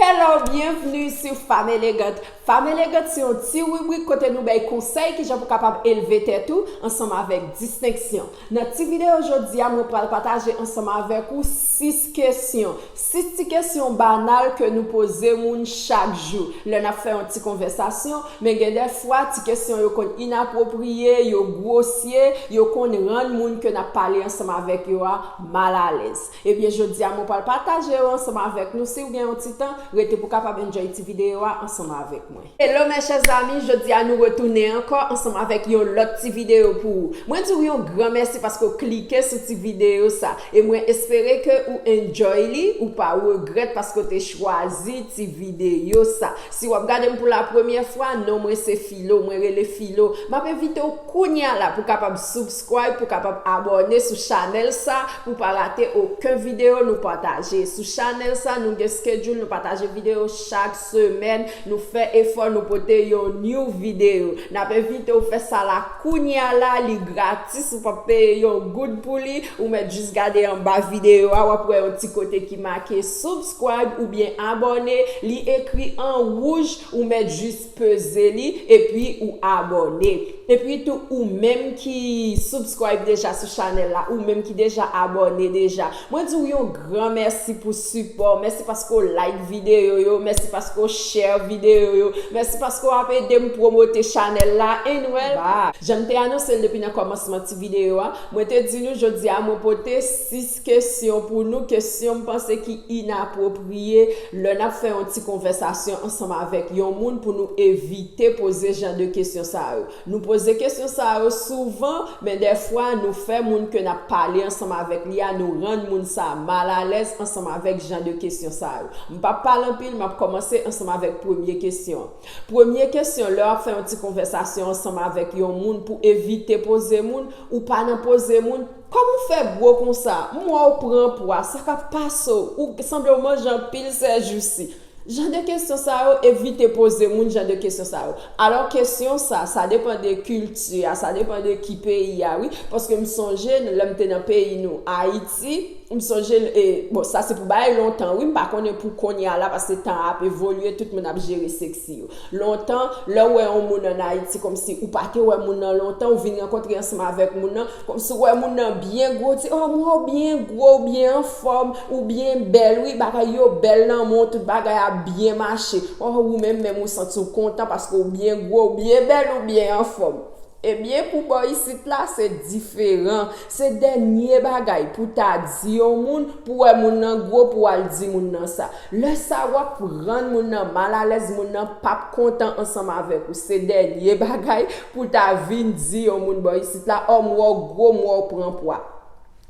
Hello, byenvni sou Fam Elegant! Fam Elegant se yon ti ribrik kote nou bay konsèy kijan pou kapab elve tèt ou ansanm avèk distenksyon. Nan ti videyo jodi a mwen pral pataje ansanm avèk ou 6 kesyon, 6 ti kesyon banal ke nou poze moun chak jou lè nap fè yon ti konvèsasyon, men gen dè fwa ti kesyon yo konn inapwopriye, yo gwosye, yo konn rann moun ke nap pale ansanm avèk yo a mal alèz. Ebyen jodia mwen pwal pataje yo ansanm avèk nou siw gen yon ti tan rete pou kapab enjoy ti video a ansanm avèk mwen. Hello mes chers amis jodia nou retounen ankò ansanm avèk yon lòt ti video pou ou mwen diw yon gran mèsi paske ou klike sou ti video sa e mwen espere ke ou enjoy li ou pa regrèt paske ou te chwazi ti video sa si wap gadem pou la premyè fwa non mwen se Filo mwen rele Filo map envitew kounya la pou kapab sub Subscribe pou kapab abòne sou chanèl sa pou pa rate oken video nou pataje sou chanèl sa nou gen schedule nou pataje video chak semèn nou fè efò nou pote yon new video nap envitew fè sa la kounya la li gratis ou pap peye yon goud pou li ou mèt jis gade anba video a wap wè yon ti kote ki make subscribe oubyen abòne li ekri an wouj ou mèt jis peze li epi ou abòne epi tou ou menm ki subscribe deja sou chanèl la ou menm ki deja abòne deja mwen di w yon gran mèsi pou sipò w mèsi paske w like videyo yo mèsi paske w share videyo yo mèsi paske w ap ede m promote chanèl la anyway jan m te anonse l depi nan kòmansman ti videyo a mwen te di nou jodi a mwen pote 6 kesyon pou nou, kesyon m panse ki inapwopriye lè n ap fè yon ti konvèsasyon ansanm avèk yon moun pou nou evite poze jan de kesyon sa yo. Nou poze kesyon sa yo souvan, men dèfwa nou fè moun ke n ap pale ansanm avèk li a, nou rann moun sa a malalèz ansanm avèk jan de kesyon sa yo. M pap pale anpil, m ap kòmanse ansanm avèk premye kesyon an. Premye kesyon lè w ap fè yon ti konvèsasyon ansanm avèk yon moun pou evite poze moun, ou pa nan poze moun, Kòman w fè gwo konsa, m wè w pran pwa, sa k ap pase w, ou sanble w manje anpil sèjousi. Jan de kesyon sa yo, evite poze moun jan de kesyon sa yo. Alò kesyon sa, sa depan de kilti a, sa depan de ki peyi a wi, paske m sonje lè m te nan peyi nou Ayiti, m sonje l e, bon sa se pou bagay lontan wi, m pa konnen pou kounye a la paske tan an ap evolye, tout moun ap jere seksi yo. Lontan, lè ou wè yon moun an Ayiti kòmsi ou pa te wè moun nan lontan, ou vin rankontre ansanm avèk moun nan, kòmsi ou wè moun nan byen gwo, ou di, oh mwen ou byen gwo, ou byen anfòm, ou byen bèl wi, bagay yo bèl nan men w, tout bagay ap byen mache. Oh ou menm menm ou santi w kontan paske ou byen gwo, ou byen bèl, ou byen anfòm. Ebyen pou bò isit la se diferan, se dènye bagay pou ta di yon moun pou wè moun nan gwo pou al di moun nan sa. Lè sa wap rann moun nan mal alèz moun nan pap kontan ansanm avèk ou se dènye bagay pou ta vin di yon moun bò isit la ò m wè w gwo m wè w pran pwa.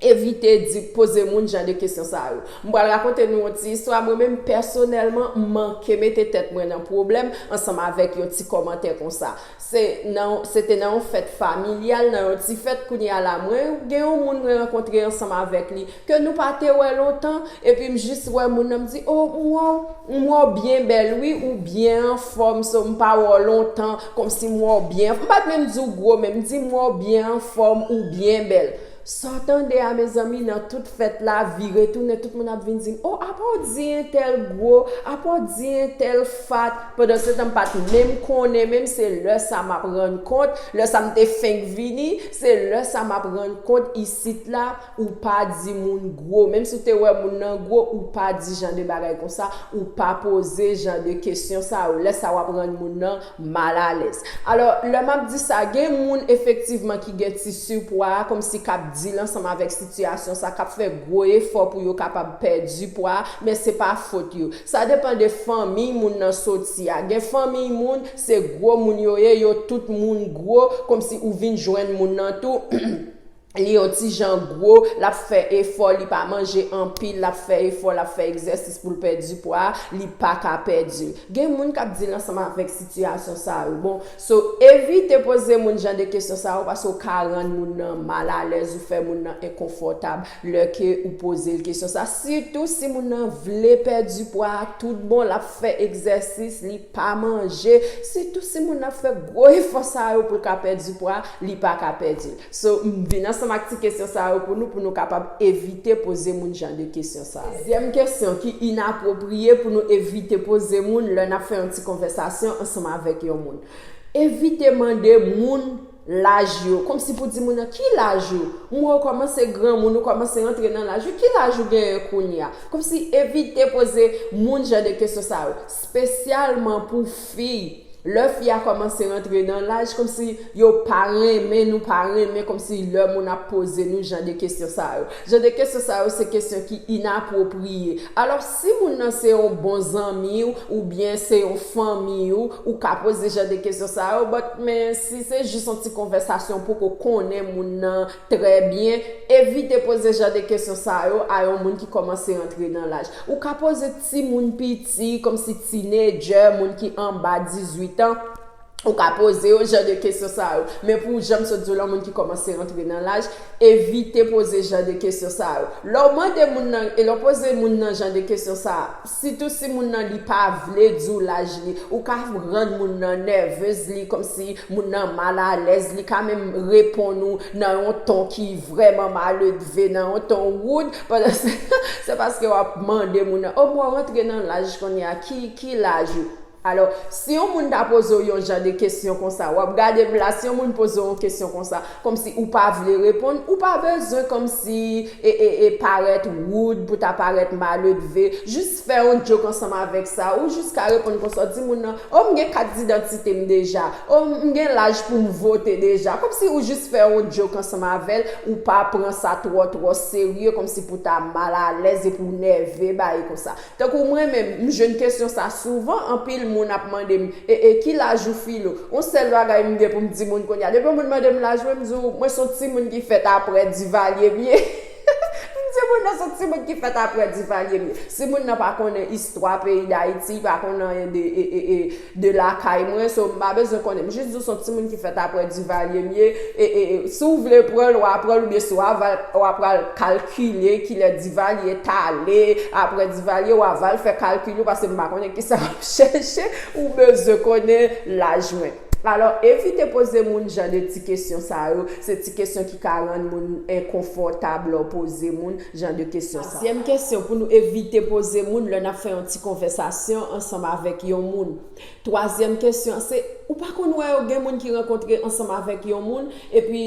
Evite di, poze moun jan de kesyon sa yo. M pral rakonte nou yon ti istwa, mwen menm pèsonèlman m manke mete tèt mwen nan pwoblèm ansanm avèk yon ti kòmantè konsa. Se nan, se te nan yon fèt familyal, nan yon ti fèt kounye a la mwen gen yon moun mwen rankontre ansanm avèk li ke nou pa te wè lontan epi m jis wè moun nan m di o m wè w m wè w byen bèl wi ou byen anfòm so m pa wè w lontan kòmsi m wè w byen m pa t menm di w gwo men m di m wè w byen anfòm ou byen bèl Saw tande a mezanmi nan tout fèt la vire tounen tout moun ap vin dim oh apaw di entèl gwo apaw di entèl fat pandan se tan m pat menm konnen menm se lè sa map rann kont lè sa m te fenk vini se lè sa map rann kont isit la ou pa di moun gwo menm si w te wè moun nan gwo ou pa di jan de bagay konsa ou pa poze jan de kesyon sa yo lè sa wap rann moun nan mal alèz. Alò, lè m ap di sa, gen moun efektivman ki gen ti sipwa a, kòmsi k ap dil ansanm avèk sitiyasyon sa, k ap fè gwo efò pou yo kapab pèdi pwa a, men se pa fot yo. Sa depan de fanmiy moun nan soti a. Gen fanmiy moun, se gwo moun yo ye, yo tout moun gwo, kòmsi ou vin jwenn moun nan tou, li yon ti jan gwo, l ap fè efò, li pa manje anpil, l ap fè efò, l ap fè egzèsis pou l pèdi pwa, li pa ka pèdi. Gen moun k ap dil ansanm avèk sitiyasyon sa yo. Bon, so evite poze moun jan de kesyon sa yo paske ou ka rann moun nan mal alèz, ou fè moun nan enkonfòtab lè ke ou poze l kesyon sa. Sitou si moun nan vle pèdi pwa a tout bon, l ap fè egzèsis, li pa manje, sitou si moun nan ap fè gwo efò sa yo pou l ka pèdi pwa, li pa ka pèdi l. So m vin ansanm ak ti kesyon sa yo pou nou pou nou kapab evite poze moun jan de kesyon sa yo. Dezyèm kesyon ki inapwopriye pou nou evite poze moun lè n ap fè yon ti konvèsasyon ansanm avèk yon moun. Evite mande moun laj yo, kòmsi pou di moun nan, Ki laj ou? M wè ou kòmanse granmoun, ou kòmanse rantre nan laj wi, ki laj ou genyen kounye a? Kòmsi evite poze moun jan de kesyon sa yo. Spesyalman pou fi, lè fi a kòmanse rantre nan laj kòmsi yo pa renmen nou pa renmen kòmsi lè moun ap poze nou jan de kesyon sa yo. Jan de kesyon sa yo se kesyon ki inapwopriye. Alò si moun nan se yon bon zanmi w oubyen se yon fanmi w, ou ka poze jan de kesyon sa yo but men si se jis yon ti konvèsasyon ou poko konnen moun nan, Trè byen, evite poze jan de kesyon sa yo a yon moun ki kòmanse antre nan laj. Ou ka poze timoun piti, kòmsi tinedjè, moun ki anba 18 an, ou ka poze yo jan de kesyon sa yo. Men pou, jan m sot di w lan, moun ki kòmanse antre nan laj, evite poze jan de kesyon sa yo. Lè w mande moun nan, e lè w poze moun nan jan de kesyon sa a, Sitou si moun nan li pa vle di w laj li, ou ka rann moun nan nèvez li kòmsi moun nan mal alèz, li ka menm reponn ou nan yon ton ki vrèman maledve, nan yon ton woud, pandan se tan se paske w ap mande moun nan, o mwen rantre nan laj kounye a, ki laj ou? Alò, si yon moun ta poze w yon jan de kesyon konsa, w ap gade bla. Si yon moun poze w yon kesyon konsa, kòmsi ou pa vle reponn, ou pa bezwen kòmsi e parèt woud pou ta parèt maledve. Jis fè yon djok ansanm avèk sa. Ou jis ka reponn konsa, w di moun nan, O, m gen kat didantite m deja. O, m gen laj pou m vote deja. Kòmsi ou jis fè yon djok ansanm avè l. Ou pa pran sa twò twò serye kòmsi pou ta mal alèz epi w nève ba e konsa. Tankou mwen menm, m jwenn kesyon sa souvan, anpil moun ap mande m, e e ki laj ou Filo? On sèl bagay m gen pou m di moun kounye a, depi on moun mande m laj mwen, m di w mwen son ti moun ki fèt aprè Divalye m ye. M di moun nan son ti moun ki fèt aprè Divalye m ye. Si moun nan pa konnen istwa peyi Dayiti, pa konnen anyen de e e e de lakay mwen so m pa bezwen konnen m jis di w son timoun ki fèt aprè Duvalier m ye e si w vle pran l wa pran l oubyen si w aval wa pral kalkile kilè Duvalier t ale aprè Duvalier wa val fè kalkil ou paske m pa konnen kisa wap chèche ou bezwen konnen laj mwen alò evite poze moun jan de ti kesyon sa yo se ti kesyon ki ka rann moun enkonfòtab lè w poze moun jan de kesyon sa. Zyèm kesyon pou nou evite poze moun lè n ap fè yon ti konvèsasyon ansanm avèk yon moun. Twazyèm kesyon an se, ou pa konn wè yo gen moun ki rankontre ansanm avèk yon moun epi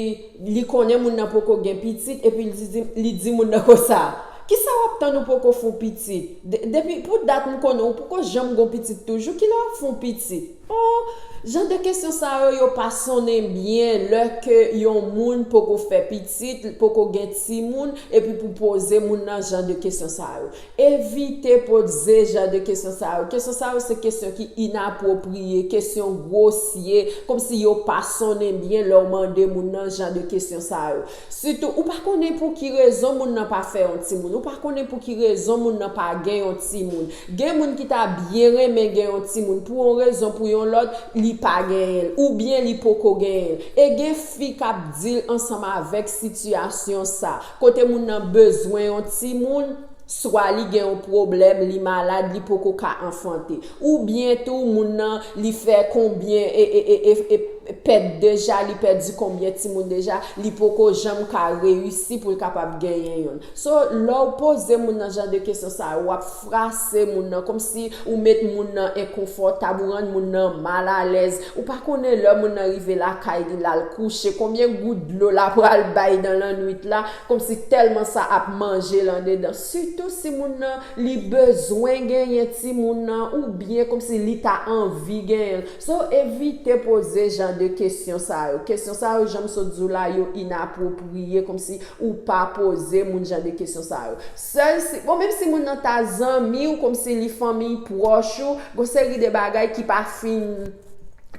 li konnen moun nan poko gen pitit epi li di moun nan konsa, ki sa w ap tann ou poko fè w pitit? Depi pou dat m konnen w poko janm gen w pitit toujou, ki lè w ap fè w pitit? Oh! Jan de kesyon sa yo, yo pa sonnen byen lè ke yon moun poko fè pitit, l poko gen timoun, epi pou poze moun nan jan de kesyon sa yo. Evite potze jan de kesyon sa yo. Kesyon sa yo se kesyon ki inapwopriye, kesyon gwosye, komsi yo pa sonnen byen lè w mande moun nan jan de kesyon sa yo. Sitou, ou pa konnen pou ki rezon moun nan pa fè yon timoun, ou pa konnen pou ki rezon moun nan pa gen yon timoun. Gen moun ki ta byen renmen gen yon timoun, pou yon rezon pou yon lòt, li pa genyen l, oubyen li poko genyen l. E gen fi k ap dil ansanm avèk sitiyasyon sa, kote moun nan bezwen yon timoun, swa li gen yon pwoblèm, li malad, li poko ka anfante. Ou byen tou moun nan li fè konbyen pèt deja, li pèdi konbyen timoun deja, li poko janm ka reyisi pou l kapab genyen youn. So, lè w poze moun nan jan de kesyon sa yo, w ap frase moun nan, kòmsi ou met moun nan enkonfòtab, ou rann moun nan mal alèz. Ou pa konnen lè moun nan rive lakay li, l al kouche, konbyen gout dlo l apral bay dan lannwit la, Komsi telman sa ap manjel andedan sitou si moun nan li bezwen genyen timoun nan ou byen komsi li ta anvi genyenl so evite poze jan de kesyon sa yo kesyon sa yo janm sot diw la yo inapwopriye komsi ou pa poze moun jan de kesyon sa yo sèl si bon menm si moun nan ta zanmiw komsi li fanmiy pwòch ou gon seri de bagay ki pa fin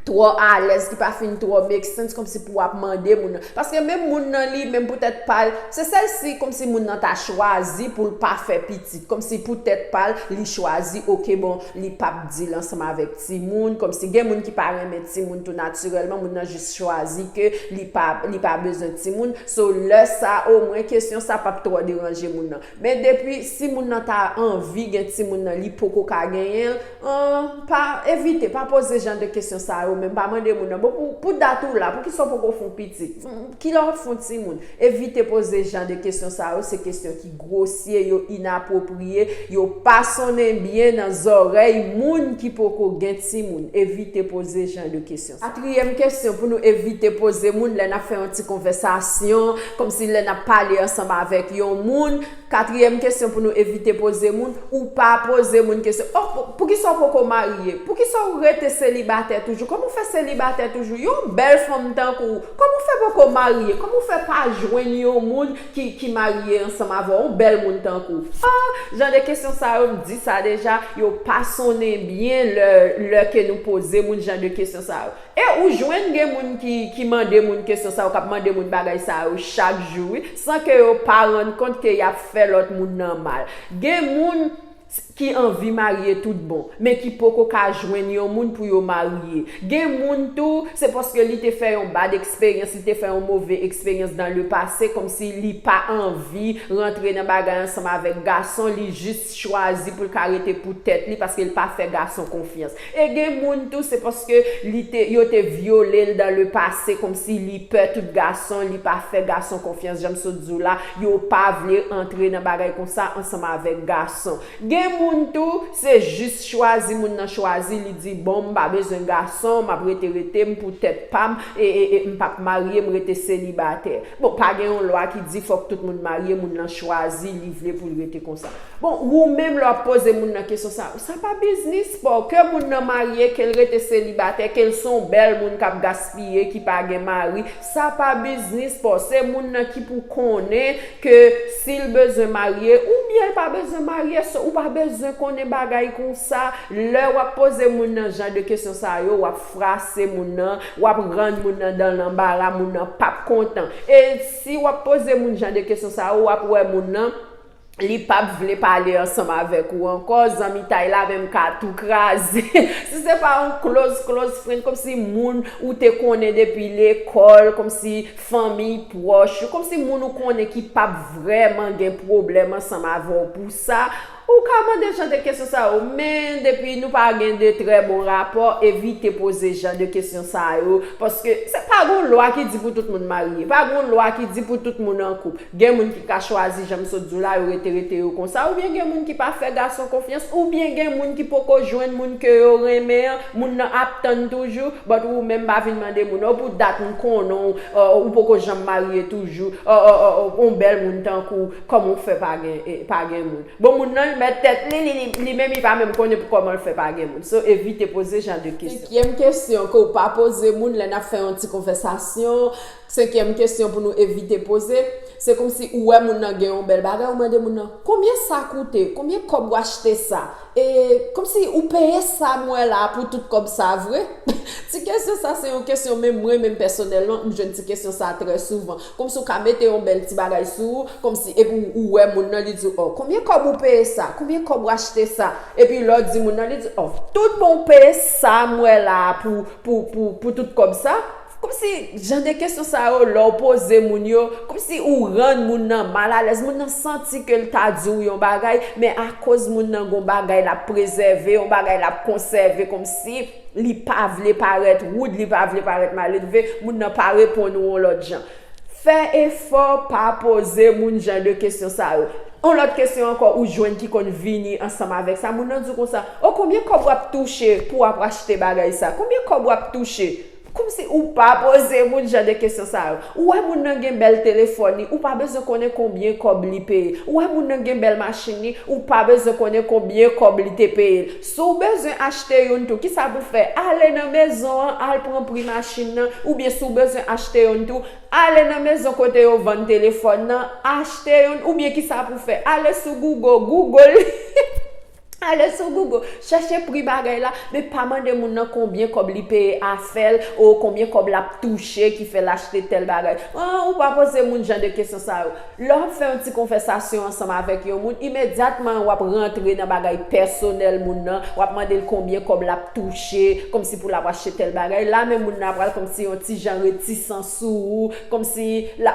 twò alèz, ki pa fin twò make sense kòmsi pou wap mande moun nan. Paske menm moun nan li menm pou tèt pa l, se sèl si kòmsi moun nan ta chwazi pou l pa fè pitit, kòmsi pou tèt pa l, li chwazi ok bon li pap di l ansanm avèk timoun, kòmsi gen moun ki pa renmen timoun tou natirèlman, moun nan jis chwazi ke li pa li pa bezwen timoun, so lè sa omwen kesyon sa pap twò deranje moun nan. Men depi si moun nan ta anvi gen timoun nan li poko ka genyen l an pa evite pa poze jan de kesyon sa yo menm pa mande moun nan bon pou pou dat ou la poukisa w poko fon pitit kilè wap fon timoun evite poze jan de kesyon sa yo se kesyon ki gwosye yo inapwopriye yo pa sonnen byen nan zòrèy moun ki poko gen timoun evite poze jan de kesyon. Katriyèm kesyon pou nou evite poze moun lè n ap fè yon ti konvèsasyon, kòmsi lè n ap pale ansanm avèk yon moun, katriyèm kesyon pou nou evite poze moun, ou pa poze moun kesyon, O, poukisa ou poko marye? Poukisa ou rete selibatè toujou? Kòman ou fè selibatè toujou? Yon bèl fanm tankou ou, kòman ou fè poko marye? Kòman ou fè pa jwenn yon moun? ki marye ansanm avè yon bèl moun tankou w ah jan de kesyon sa yo m di sa deja yo pa sonnen byen lè lè ke nou poze moun jan de kesyon sa yo e ou jwenn gen moun ki ki mande moun kesyon sa yo kap mande moun bagay sa yo chak jou wi san ke yo pa rann kont ke yap fè lòt moun nan mal gen moun t ki anvi marye tout bon men ki poko ka jwenn yon moun pou yo marye gen moun tou se paske li te fè yon bad eksperyans li te fè yon move eksperyans dan le pase kòmsi li pa anvi rantre nan bagay ansanm avèk gason li jis chwazi poul ka rete pou tèt li paskel pa fè gason konfyans E gen moun tou se paske li te yo te vyole l dan le pase komsi li pè tout gason li pa fè gason konfyans janm sot di w la yo pa vle antre nan bagay konsa ansanm avèk gason gen moun tou se jis chwazi moun nan chwazi li di bon m pa bezwen gason m ap rete rete m pou tèt pa m e e e m p ap marye m rete selibatè bon pa gen yon lwa ki di fòk tout moun marye moun lan chwazi li vle pou l rete konsa. Bon ou menm lè wap poze moun nan kesyon sa yo sa pa biznis paw ke moun nan marye kel rete selibatè kel son bèl moun kap gaspiye ki pa gen mari sa pa biznis paw se moun nan ki pou konnen ke sil bezwen marye oubyenl pa bezwen marye so ou pa bezwen konnen bagay konsa lè wap poze moun nan jan de kesyon sa yo wap frase moun nan wap rann moun nan dan lanbara moun nan pap kontan e si wap poze moun jan de kesyon sa yo wap wè moun nan li pap vle pale ansanm avèk ou ankò zanmitay la menm ka tou kraze si se pa yon close close friend kòmsi moun ou te konnen depi lekòl kòmsi fanmiy pwòch ou kòmsi moun ou konnen ki pap vrèman gen pwoblèm ansanm avè w pou sa ou ka mande jan de kesyon sa yo men depi nou pa gen de trè bon rapò evite poze jan de kesyon sa yo paske se pa gon lwa ki di pou tout moun marye pa gon lwa ki di pou tout moun an koup Gen moun ki ka chwazi janm sot di w la yo rete rete yo konsa oubyen gen moun ki pa fè gason konfyans oubyen gen moun ki poko jwenn moun ke yo renmen an moun nan ap tann toujou but ou menm pa vin mande moun oh pou dat m konnen w oh ou poko janm marye toujou oh oh oh oh on bèl moun tankou w kòman w fè pa gen pa gen moun bon moun nan l mèt tèt li li li menm li pa menm konnen pou kòman l fè pa gen moun so evite poze jan de kesyon. Senkyèm kesyon ke w pa poze moun lè n ap fè yon ti konvèsasyon Senkyèm kesyon pou nou evite poze, se kòmsi ou wè moun nan gen yon bèl bagay ou mande moun nan, konbyen sa koute, konbyen kòb w achte sa? E, kòmsi ou peye sa m wè la a pou tout kòb sa a vre? Ti kesyon sa se yon kesyon menm mwen menm pèsonèlman m jwenn ti kesyon sa trè souvan. Kòmsi ou ka mete yon bèl ti bagay sou ou, kòmsi epi ou wè moun nan li di w ò, konbyen kòb ou peye sa, konbyen kòb w achte sa? Epi lè w di moun nan li di ò, tout bon ou peye sa m wè la a pou pou pou tout kòb sa? Kòmsi jan de kesyon sa yo lè w poze moun yo, kòmsi ou rann moun nan mal alèz, moun nan santi ke l ta di w yon bagay, men akoz moun nan gon bagay l ap prezève, yon bagay l ap konsève kòmsi li pa vle parèt woud, li pa vle parèt maledve, moun nan pa reponn ou yon lòt jan. Fè efò pa poze moun jan de kesyon sa yo. Yon lòt kesyon ankò ou jwenn ki konn vini ansanm avèk sa, moun nan di w konsa, O konbyen kòb w ap touche pou w ap achte bagay sa? Konbyen kòb w ap touche? Komsi ou pa poze moun jan de kesyon sa yo. Ou wè moun nan gen bèl telefòn li, ou pa bezwen konnen konbyen kòb li peye. Ou wè moun nan gen bèl machin li, ou pa bezwen konnen konbyen kòb li te peye l. Si w bezwen achte youn tou, kisa pou w fè? Ale nan mezon an, al pran pri machin nan. Oubyen si w bezwen achte youn tou, ale nan mezon kote yo vann telefòn nan, achte youn. Oubyen kisa pou w fè? Ale sou Google, Google li. Ale sou Google, chèche pri bagay la, men pa mande moun nan konbyen kòb li peye afèl oo konbyen kòb lap touche ki fèl achte tèl bagay ooh ou pa poze moun jan de kesyon sa yo lèw ap fè yon ti konvèsasyon ansanm avèk yon moun imedyatman wap rantre nan bagay pèsonèl moun nan wap mandel konbyen kòb lap touche kòmsi pou lap achte tèl bagay la menm moun nan apral kòmsi yon ti jan retisan sou ou kòmsi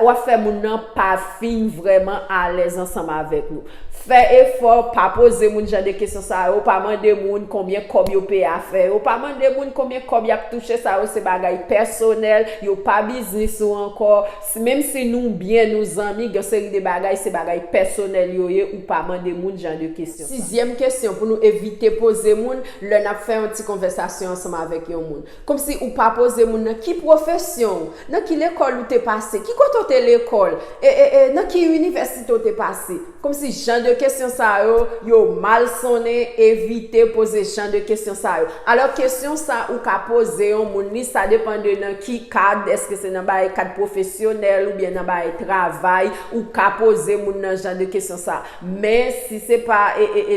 wap fè moun nan pa fin vrèman alèz ansanm avèk nou. Fè efò, pa poze moun jan de kesyon sa yo, pa mande moun konbyen kòb yo peye afè yo, pa mande moun konbyen kòb yap touche sa yo se bagay pèsonèl, yo pa biznis ou ankò, menm si nou byen nou zanmi gen yon seri de bagay se bagay pèsonèl yo ye ou pa mande moun jan de kesyon sa. Sizyèm kesyon pou nou evite poze moun lè nap fè yon ti konvèsasyon ansanm avèk yon moun. Kòmsi ou pa poze moun nan ki pwofesyon ou, nan ki lekòl ou te pase, ki kote ou te lekòl, e, e, e nan ki inivèsite ou te pase. Kòmsi jan de kesyon sa yo, yo mal sonnen, evite poze jan de kesyon sa yo. Alò kesyon sa ou ka poze yon moun li, sa depan de nan ki kad, èske se nan bay kad pwofesyonèl oubyen nan bay travay, ou ka poze moun nan jan de kesyon sa. Men, si se pa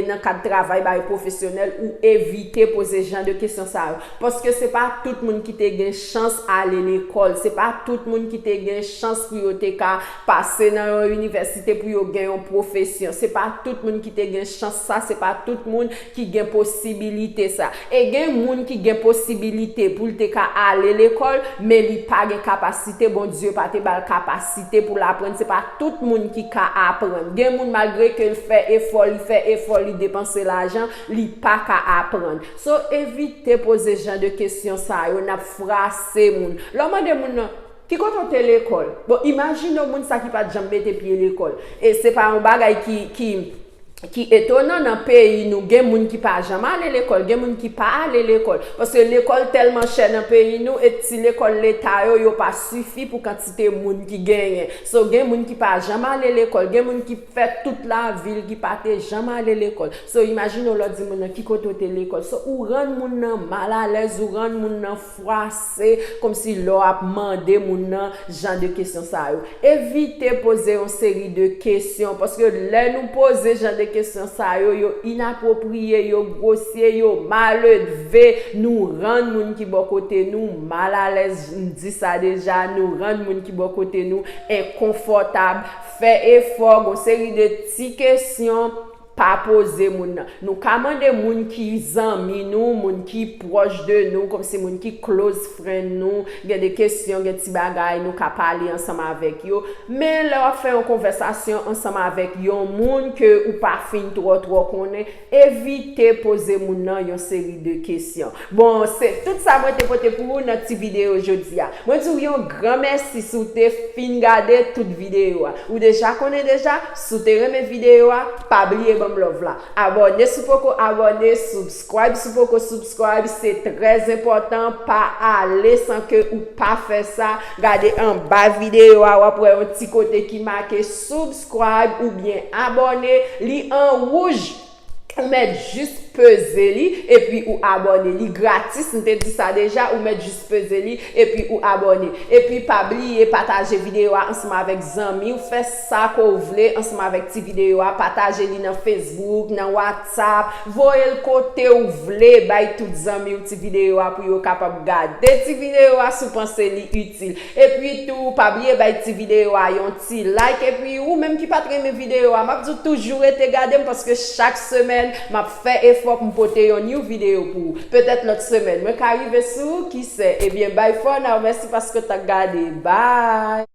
nan kad travay bay pwofesyonèl, ou evite poze jan de kesyon sa yo. Paske se pa tout moun ki te gen chans ale lekòl, se pa tout moun ki te gen chans pou yo te ka pase nan yon inivèsite pou yo gen yon pwofesyon, se pa tout moun ki te gen chans sa, se pa tout moun ki gen posibilite sa. E gen moun ki gen posibilite pou l te ka ale lekòl, men li pa gen kapasite, Bondye pa te ba l kapasite pou l aprann. Se pa tout moun ki ka aprann. Gen moun malgre ke l fè efò, li fè efò, li depanse lajan, li pa ka aprann. So, evite poze jan de kesyon sa yo, n ap frase moun. Lè w mande moun nan, Ki kote w te lekòl? Bon, imajine w moun sa ki pa t janm mete pye lekòl. E se pa yon bagay ki, ki. ki etonan nan peyi nou gen moun ki pa janm ale lekòl, gen moun ki pa ale lekòl, paske lekòl tèlman chè nan peyi nou et ti lekòl leta yo, yo pa sifi pou kantite moun ki genyen. So gen moun ki pa janm ale lekòl, gen moun ki fè tout lavi l ki pa te janm ale lekòl. So imajine w lè w di moun nan ki kote w te lekòl, so ou rann moun nan mal alèz, ou rann moun nan. fwase kòmsi lè w ap mande moun nan jan de kesyon sa yo. Evite poze yon seri de kesyon, paske lè nou poze jan de kesyon sa yo, yo inapwopriye, yo gwosye, yo maledve, nou rann moun ki bò kote nou mal alèz, m di sa deja, nou rann moun ki bò kote nou enkonfòtab. Fè efò, gon seri de ti kesyon. Pa poze moun nan. Nou ka mande moun ki zanmi nou, moun ki pwòch de nou, kòmsi moun ki close friend nou, gen de kesyon, gen ti bagay nou ka pale ansanm avèk yo. Men lè wap fè yon konvèsasyon ansanm avèk yon moun ke ou pa fin twò twò konnen, evite poze moun nan yon seri de kesyon. Bon, se tout sa mwen te pote pou ou nan ti videyo jodi a. Mwen di ou yon gran mèsi si w te fin gade tout videyo a. Ou deja konnen deja, si w te renmen videyo a, pa bliye ban m love la. Abòne si w poko abòne, subscribe si w poko subscribe, se trè zenpòtan, pa ale san ke ou pa fè sa, gade anba videyo a w ap wè yon ti kote ki make subscribe oubyen abòne, li an wouj Ou mèt jis peze li epi ou abòne li gratis m te di sa deja ou mèt jis peze li epi ou abòne epi pa bliye pataje videyo a ansanm avèk zanmiw fè sa ke w vle ansanm avèk ti videyo a pataje li nan Facebook nan WhatsApp voye l kotew vle bay tout zanmiw ti videyo a pou yo kapab gade ti videyo a si w panse li itil epi tou pa bliye bay ti videyo a yon Ti like epi ou menm ki pat renmen video a map di w toujou rete gadem paske chak semèn map fè efò pou m pote yon new video pou ou petèt lòt semèn mwen ka rive sou ou kisè ebyen bye for now mèsi paske w t ap gade bye.